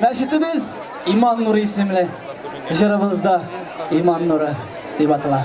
Мәчетебез Иман нуры исемле. Җырыбыз да Иман нуры дип атала.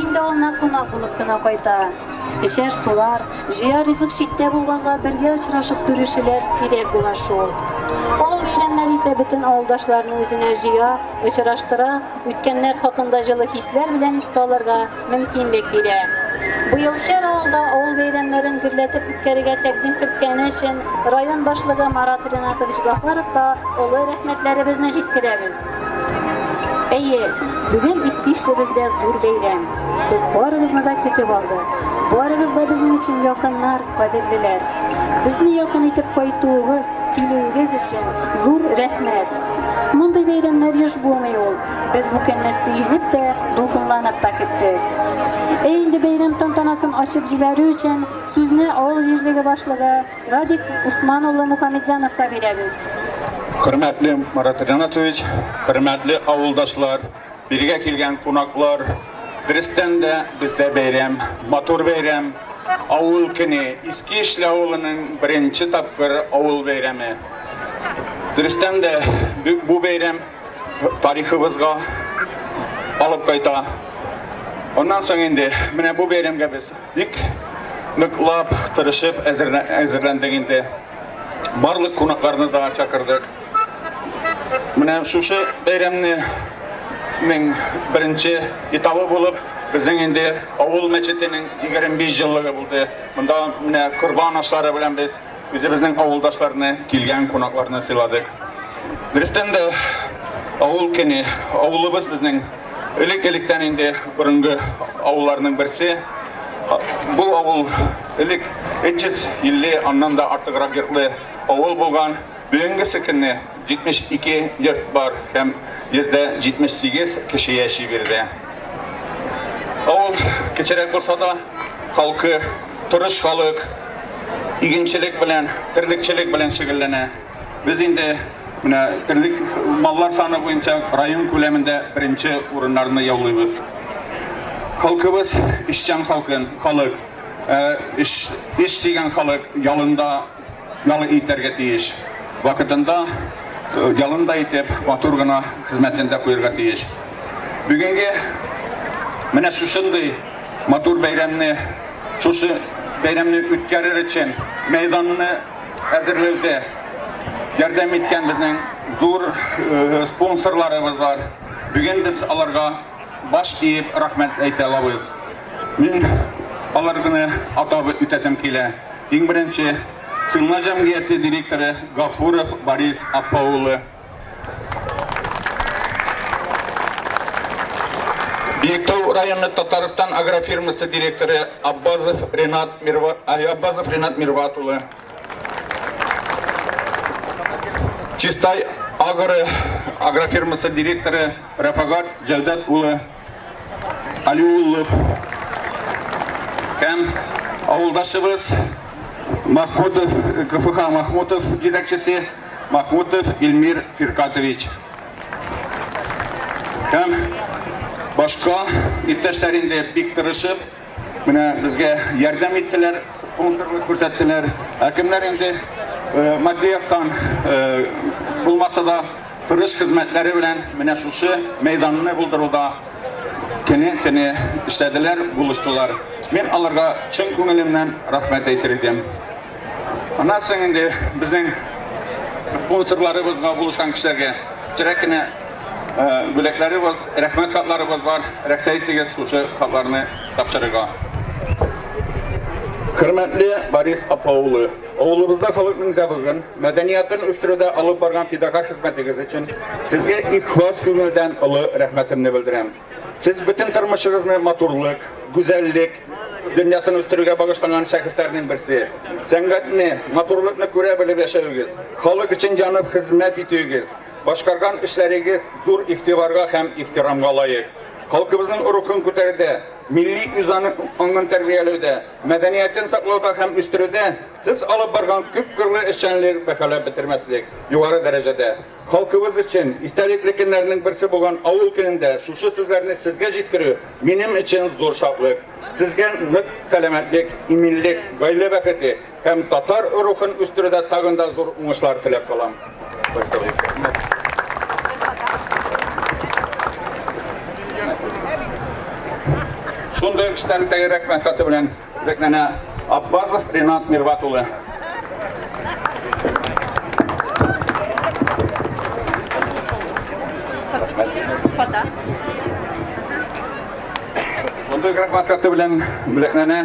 Инде ул на кунак булып кына кайта. Эчәр-сулар, җыяр ризык читтә булганга бергә очрашып күрешүләр сирәк була шул. Ул бәйрәмнәр исә бөтен авылдашларны үзенә җыя, очраштыра, үткәннәр хакында җылы хисләр белән искә алырга мөмкинлек бирә. Быел һәр авылда авыл бәйрәмнәрен гөрләтеп үткәрергә тәкъдим керткәне өчен район башлыгы Марат Ринатович Гафаровка олы рәхмәтләребезне җиткерәбез. Әйе, бүген Испишлебездә зур бәйрәм. Без барыгызны да көтеп алдык. Барыгыз да безнең өчен якыннар, кадерлеләр. Безне якын итеп кайтуыгыз, килүегез өчен зур рәхмәт. Мондый бәйрәмнәр еш булмый ул. Без бу көнне сөенеп тә, дулкынланып та көттек. Ә инде бәйрәм тантанасын ачып җибәрү өчен сүзне авыл җирлеге башлыгы Радик Усман улы Мухамедзяновка бирәбез. Хөрмәтле Марат Ринатович, хөрмәтле авылдашлар, биргә килгән кунаклар, дөрестән дә бездә бәйрәм, матур бәйрәм, авыл көне, Иске Ишле авылының беренче тапкыр авыл бәйрәме. Дөрестән дә бу бәйрәм тарихыбызга алып кайта. Аннан соң инде менә бу бәйрәмгә без бик ныклап, тырышып әзерләндек инде. Барлык кунакларны да чакырдык. Менә шушы бәйрәмнең беренче этабы булып, безнең инде авыл мәчетенең 25 еллыгы булды. Монда менә корбан ашлары белән без Үзебезнең авылдашларны, килгән кунакларны сыйладык. Дөрестән дә авыл көне, авылыбыз безнең элек-электән инде борынгы авылларның берсе. Бу авыл элек 350 аннан да артыграк йортлы авыл булган. Бүгенгесе көнне 72 йорт бар һәм 178 кеше яши биредә. Авыл кечерәк булса да, халкы торыш халык, игенчелек белән, терлекчелек белән шөгыльләнә. Без инде менә терлек маллар саны буенча район күләмендә беренче урыннарны яулыйбыз. Халкыбыз эшчән халкын, халык, эш, эш сөйгән халык, ялында Ял итәргә тиеш. Вакытында ялын да итеп, матур гына хезмәтен дә куярга тиеш. Бүгенге менә шушындый матур бәйрәмне, шушы бәйрәмне үткәрер өчен мәйданны әзерләүдә ярдәм иткән безнең зур спонсорларыбыз бар. Бүген без аларга баш иеп рәхмәт әйтә алабыз. Мин аларны атап үтәсем килә. Иң беренче Сыйнма җәмгыяте директоры Гафуров Борис апа улы. Биектау районы Татарстан агрофирмасы директоры Аббазов Ренат Мирват Аббазов Ренат Мирват улы. Чистай агро агрофирмасы директоры Рафагат Җәүдәт улы. Алиуллов һәм авылдашыбыз Махмутов, КФХ Махмутов җитәкчесе Махмутов Илмир Фиркатович. Һәм башка иптәшләр инде бик тырышып, Менә безгә ярдәм иттеләр, спонсорлык күрсәттеләр. Ә кемнәр инде э, матди яктан э, булмаса да тырыш хезмәтләре белән менә шушы мәйданны булдыруда кене кене эшләделәр, булыштылар. Мин аларга чын күңелемнән рәхмәт әйтер идем. Аннан соң инде безнең спонсорларыбызга булышкан кешеләргә кечерәк кенә бүләкләребез, рәхмәт хатларыбыз бар. Рәхсә итегез шушы хатларны тапшырырга. Хөрмәтле Борис апа улы, авылыбызда халыкның зәвыгын, мәдәниятын үстерүдә алып барган фидага хезмәтегез өчен сезгә ихлас күңелдән олы рәхмәтемне белдерәм. Сез бөтен тормышыгызны матурлык, гүзәллек дөньясын үстерүгә багышланган шәхесләрнең берсе. Сәнгатьне, матурлыкны күрә белеп яшәвегез, халык өчен янып хезмәт итүегез, Башкарган эшләрегез зур игътибарга һәм ихтирамга лаек. Халкыбызның рухын күтәрүдә, милли үзаны аңын тәрбияләүдә, мәдәниятен саклауда һәм үстерүдә сез алып барган күпкырлы эшчәнлек бәһаләп бетермәслек югары дәрәҗәдә. Халкыбыз өчен истәлекле көннәрнең берсе булган авыл көнендә шушы сүзләрне сезгә җиткерү минем өчен зур шатлык. Сезгә нык сәламәтлек, иминлек, гаилә бәхете, Һәм татар рухын үстерүдә тагын да зур уңышлар теләп калам. Шундый эштән тәгәрәк мәхәббәте белән Бекнәнә Аббазов Ринат Мирват улы. Фото. Фото графикасы белән бүләкләнә.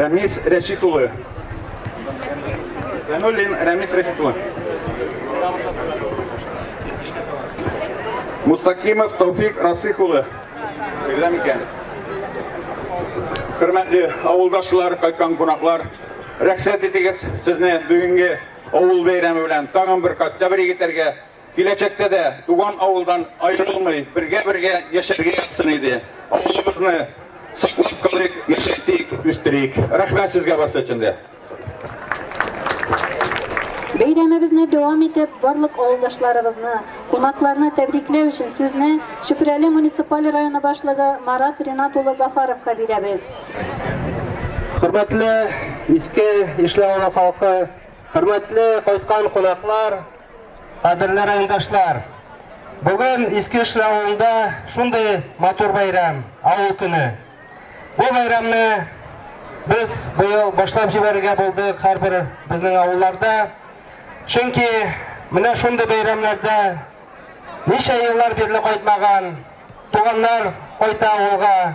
Рәмис Рәшит улы. Фәнуллин Рәмис Рәшит улы. Мустакимов Тауфик Расих улы. Бирдә микән? Хөрмәтле авылдашлар, кайткан кунаклар, рәхсәт итегез сезне бүгенге авыл бәйрәме белән тагын бер кат тәбрик итәргә, Киләчәктә дә туган авылдан аерылмый, бергә-бергә яшәргә язсын иде. Авылыбызны саклап калыйк, яшәйтик, үстерик. Рәхмәт сезгә барсы өчен дә. Бәйрәмебезне дәвам итеп, барлык авылдашларыбызны, кунакларны тәбрикләү өчен сүзне Чүпрәле муниципаль районы башлыгы Марат Ринат улы Гафаровка бирәбез. Хөрмәтле Иске Ишле авылы халкы, хөрмәтле кайткан кунаклар, Кадерле райондашлар, бүген Иске Эшле авылында шундый матур бәйрәм, авыл көне. Бу бәйрәмне без быел башлап җибәрергә булдык һәрбер безнең авылларда. Чөнки менә шундый бәйрәмнәрдә ничә еллар бирле кайтмаган туганнар кайта авылга,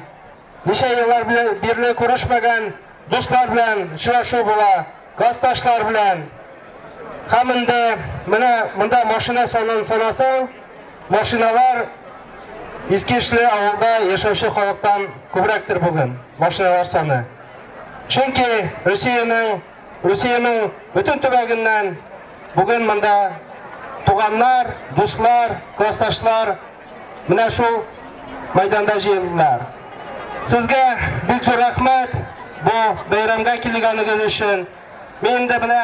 Ничә еллар бирле күрешмәгән дуслар белән очрашу була, классташлар белән. Һәм инде менә монда машина санын санасаң, машиналар Искишле авылда яшәүче халыктан күбрәктер бүген машиналар саны. Чөнки Русиянең Русиянең бөтен төбәгеннән бүген монда туганнар, дуслар, классташлар Менә шул мәйданда җыелдылар. Сезгә бик зур рәхмәт бу бәйрәмгә килгәнегез өчен. Мин дә менә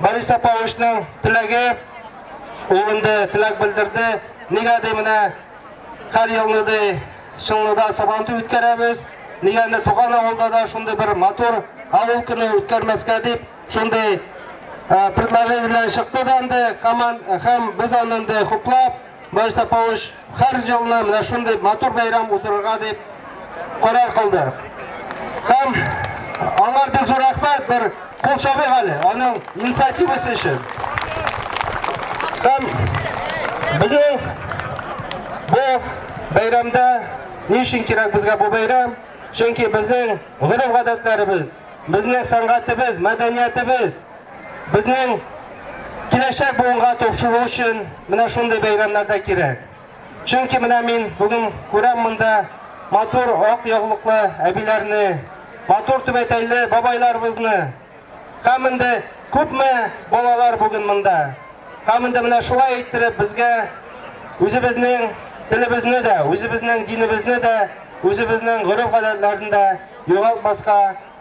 Борис Саповичның теләге, ул инде теләк белдерде. Нигә ди менә һәр елны ди Чынлыда сабантуй үткәрәбез. Нигә инде туган авылда да шундый бер матур авыл көне үткәрмәскә дип, шундый предложение белән чыкты да инде, һәм без аны инде хуплап Борисов Павлович һәр елны менә шундый матур бәйрәм уздырырга дип карар кылды. Һәм аңар бик зур рәхмәт, бер кул чабыйк әле аның инициативасы өчен. Һәм безнең бу бәйрәмдә ни өчен кирәк безгә бу бәйрәм? Чөнки безнең гореф-гадәтләребез, безнең сәнгатебез, мәдәниятебез Безнең киләчәк буынга топшыру өчен менә шундый бәйрәмнәр дә кирәк. Чөнки менә мин бүген күрәм монда матур ак яулыклы әбиләрне, матур түбәтәйле бабайларыбызны. Һәм инде күпме балалар бүген монда. Һәм инде менә шулай иттереп безгә үзебезнең телебезне дә, үзебезнең динебезне дә, үзебезнең гореф-гадәтләрен дә югалтмаска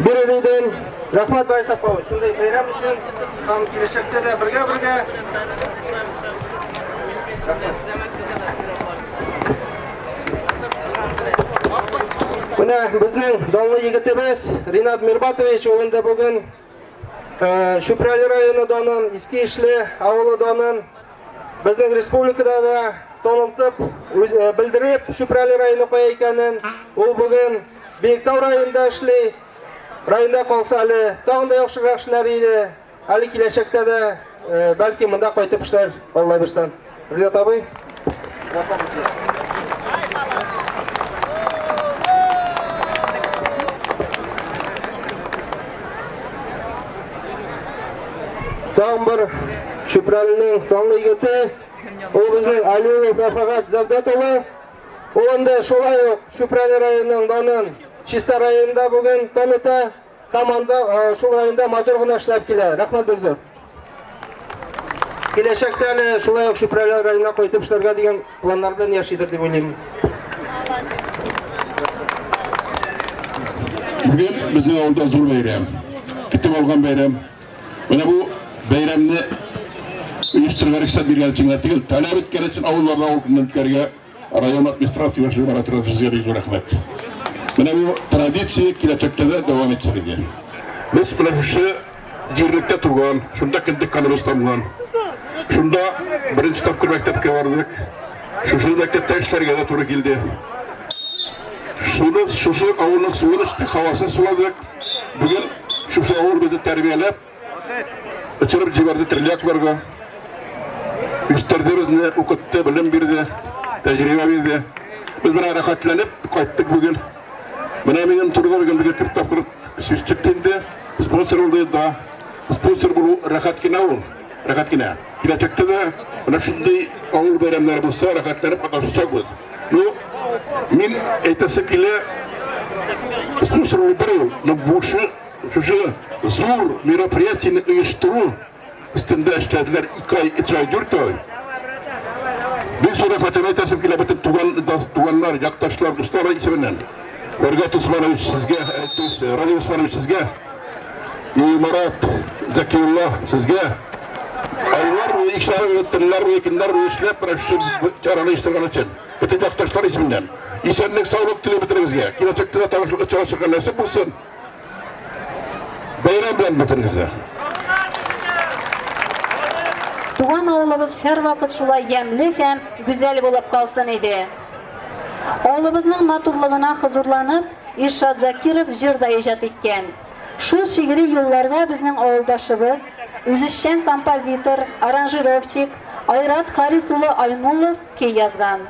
Бирелүдән рәхмәт Барис Сапавыч, шундый бәйрәм өчен һәм киләчәктә дә бергә-бергә. Менә безнең данлы егетебез Ринат Мирбатович ул инде бүген Чүпрәле районы данын, Иске Ишле авылы данын безнең республикада да танылтып, белдереп Чүпрәле районы кая икәнен, ул бүген Биектау районында эшли. Районда калса әле тагын да яхшырак эшләр иде. Әле киләчәктә дә бәлки монда кайтып эшләр Алла бирсән. Рилат абый. Тагын бер Чүпрәлнең данлы егете, ул безнең Алиев Рафагат Завдат улы. Ул инде шулай ук Чүпрәле районының данын Чиста районында бүген кам итә һәм анда шул районда матур гына эшләп килә. Рәхмәт бик зур. Киләчәктә әле шулай ук Чүпрәле районына кайтып эшләргә дигән планнар белән яшидер дип уйлыйм. Бүген безнең авылда зур бәйрәм. Көтеп алган бәйрәм. Менә бу бәйрәмне оештырырга рөхсәт биргән өчен генә түгел, таләп иткән өчен авылларда ул көнне үткәрергә район администрация башлыгы Марат Рафизгә бик зур рәхмәт. Менә бу традиция киләчәктә дә дәвам итсен иде. Без менә шушы җирлектә туган, шунда кендек каныбыз тамган. Шунда беренче тапкыр мәктәпкә бардык. Шушы мәктәптә эшләргә дә туры килде. Шуны шушы авылның суын эчтек, һавасын суладык. Бүген шушы авыл безне тәрбияләп, очырып җибәрде терләкләргә. Үстерде безне, укытты, белем бирде, тәҗрибә бирде. Без менә рәхәтләнеп кайттык бүген. Менә минем турыда бүген безгә күп тапкыр сүз чыкты инде. Спонсор булды да. Спонсор булу рәхәт кенә ул, рәхәт кенә. Киләчәктә дә менә шундый авыл бәйрәмнәре булса, рәхәтләнеп катнашачакбыз. Ну, мин әйтәсе килә, спонсор булдыру, но бушы шушы зур мероприятияне оештыру өстендә эшләделәр 2 ай, 3 ай, 4 ай. Бик зур рәхәтләнеп әйтәсем килә бөтен туган, туганнар, якташлар, дуслар исеменнән. Вәргат Усманович сезгә, Радий Усманович сезгә И Марат, Закиулла, сезгә айлар буе, икшәр буе, төннәр буе, көннәр буе эшләп берәүче чараны оештырган өчен. Бөтен якташлар исеменнән. Исәнлек, саулык телим бөтенегезгә. Киләчәктә дә танышлык очрашырга чыгар нәсип булсын. Бәйрәм белән бөтенегезгә. Туган авылыбыз һәрвакыт шулай ямьле һәм гүзәл булып калсын иде. Авылыбызның матурлыгына хозурланып, Иршат Закиров җыр да иҗат иткән. Шул шигъри юлларга безнең авылдашыбыз, үзешчән композитор, аранжировщик Айрат Харис улы Аймуллов көй язган.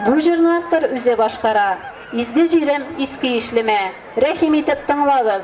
Бу җырны автор үзе башкара. Изге җирем, иске Ишлемә! Рәхим итеп тыңлагыз!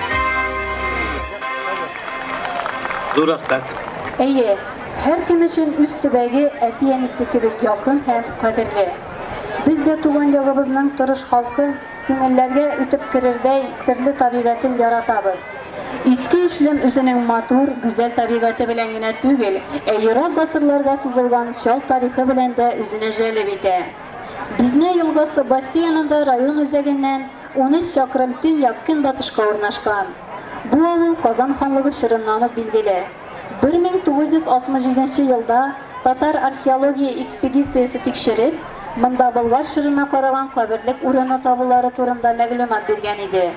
Зур рәхмәт. Әйе, һәркем өчен үз төбәге әти-әнисе кебек якын һәм кадерле. Без дә туган ягыбызның тырыш халкын, күңелләргә үтеп керердәй серле табигатен яратабыз. Иске Эшлем үзенең матур, гүзәл табигате белән генә түгел, ә ерак гасырларга сузылган чал тарихы белән дә үзенә җәлеп итә. Бизня елгасы бассейнында район үзәгеннән Унөч чакрым төньяк-көнбатышка урнашкан бу авыл Казан ханлыгы чорыннан ук билгеле. Бер мең тугыз йөз алтмыш җиденче елда татар археология экспедициясе тикшереп, монда Болгар чорына караган каберлек урыны табулары турында мәгълүмат биргән иде.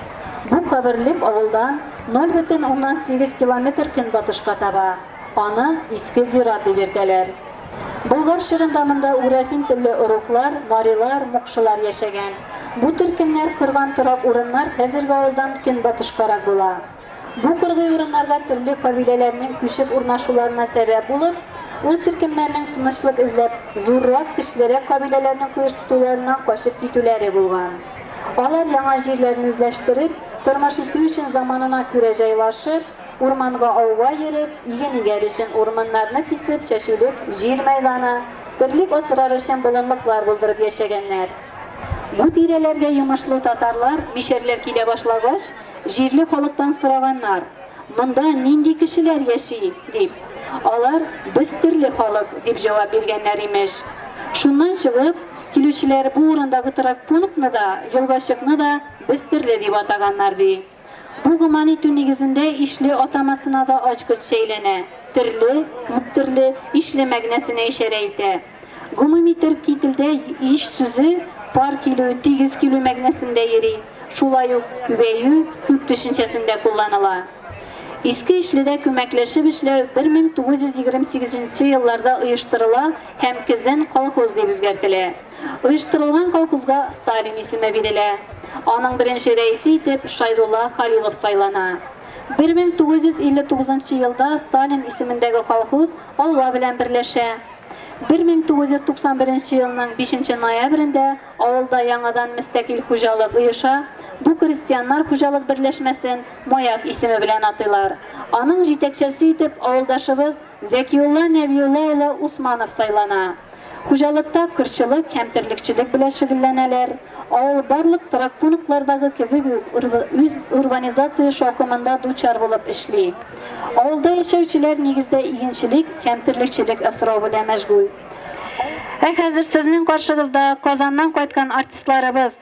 Бу каберлек авылдан ноль бөтен уннан сигез километр көнбатышка таба. Аны Иске Зират дип йөртәләр. Болгар чорында монда уграфин телле оруклар, марилар, мукшылар яшәгән. Бу төркемнәр корган торак урыннар хәзерге авылдан көнбатышкарак була. Бу кыргый урыннарга төрле кабиләләрнең күчеп урнашуларына сәбәп булып, ул төркемнәрнең тынычлык эзләп, зуррак, көчлерәк кабиләләрнең коеш тотуларыннан качып китүләре булган. Алар яңа җирләрен үзләштереп, тормыш итү өчен заманына күрә җайлашып, Урманга ауга йөреп, иген игәр өчен урманнарны кисеп чәчүлек җир мәйданы, терлек асрар өчен болынлыклар булдырып яшәгәннәр. Бу тирәләргә йомышлы татарлар, мишәрләр килә башлагач, җирле халыктан сораганнар, Монда нинди кешеләр яши? дип. Алар, Без терле халык, дип җавап биргәннәр, имеш. Шуннан чыгып, килүчеләр бу урындагы торак пунктны да, елгачыкны да Без терле дип атаганнар, ди. Бу гөман итү нигезендә ишле атамасына да ачкыч чәйләнә, терле, күптерле, ишле мәгънәсенә ишарә итә. Гомуми төрки телдә иш сүзе пар килү, тигез килү мәгънәсендә йөри, шулай ук күбәю, күп төшенчәсендә кулланыла. Иске Ишледә күмәкләшеп эшләү 1928 нче елларда оештырыла һәм Кезен колхоз дип үзгәртелә. Оештырылган колхозга Сталин исеме бирелә. Аның беренче рәисе итеп Шайдулла Халилов сайлана. 1959 елда Сталин исемендәге колхоз Алга белән берләшә. 1991 елның 5 ноябрендә авылда яңадан мөстәкыйль хуҗалык оеша, бу крестьяннар хуҗалык берләшмәсен Маяк исеме белән атыйлар. Аның җитәкчәсе итеп авылдашыбыз Зәкиулла Нәбиулла улы Усманов сайлана. Хуҗалыкта кырчылык һәм терлекчелек белән шөгелләнәләр. Авыл барлык торак пунктлардагы кебек үк үз урбанизация шаукымында дучар булып эшли. Авылда яшәүчеләр нигездә игенчелек һәм терлекчелек асрау белән мәшгуль. Ә хәзер сезнең каршыгызда Казаннан кайткан артистларыбыз!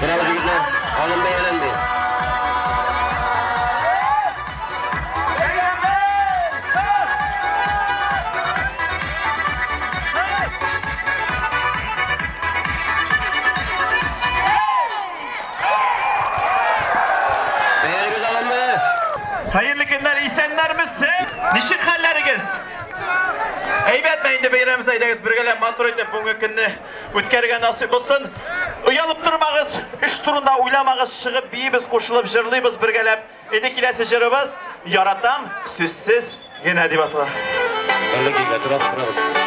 Браво, егетләр! Алым бәяләнде. Бәялегез алынды. Хәерле көннәр, исәннәрмесез? Ничек хәлләрегез? Әйбәтме инде бәйрәм сәйдәгез бергәләп матур итеп бүгенге көнне Үткәргә насыйп булсын. Оялып тормагыз, эш турында уйламагыз, чыгып биибез, кушылып җырлыйбыз бергәләп. Инде киләсе җырыбыз Яратам сүзсез генә дип атала. Әллә килә торабыз, торабыз.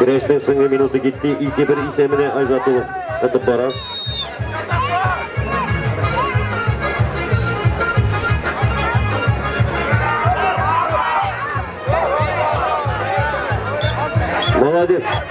Көрәшнең соңгы минуты китте, 2-1 исәменә Айзат улы ытып бара. Молодец!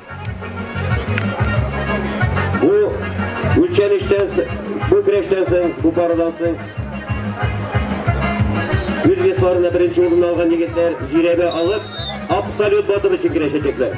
Бу үлчәнештән, бу көрәштән соң, бу парадан соң үз весларында беренче урын алган егетләр җирәбә алып, абсолют батыр өчен көрәшәчәкләр.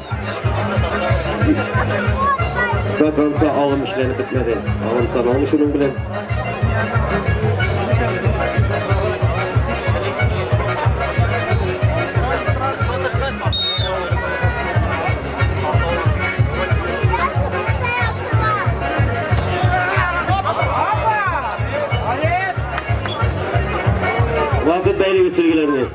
До конца алым эшләнеп бетмәде. Алым саналмый шуның белән. Вакыт бәйлеге сөлгеләрне.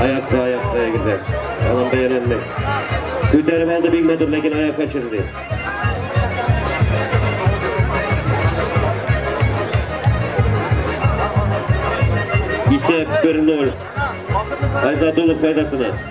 Аякта, аякта егетдә. Алан бәяләнде. Күтәреп алды бик матур, ләкин аяк качырды. Исәп 1-0. Айзадулов файдасына.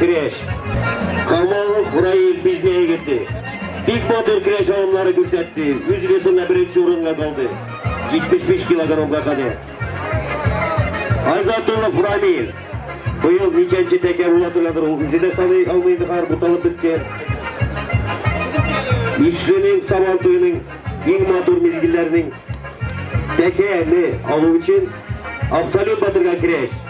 Көрәш. Камалов Раил Бизмә егете. Бик батыр көрәш алымнары күрсәтте. Үз весында беренче урынга калды. 75 килограммга кадәр. Азатулов Рамил. Быел ничәнче тәкә була торгандыр, ул үзе дә саный алмый зинһар, буталып беткән. Ишленең сабан туеның иң матур мизгелләренең тәкәне алу өчен абсолют батырга керәш.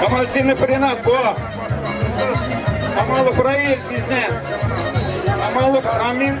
Камалетдинов Ренат, бо! Камалов Раиль, бізне! Камалов Амин,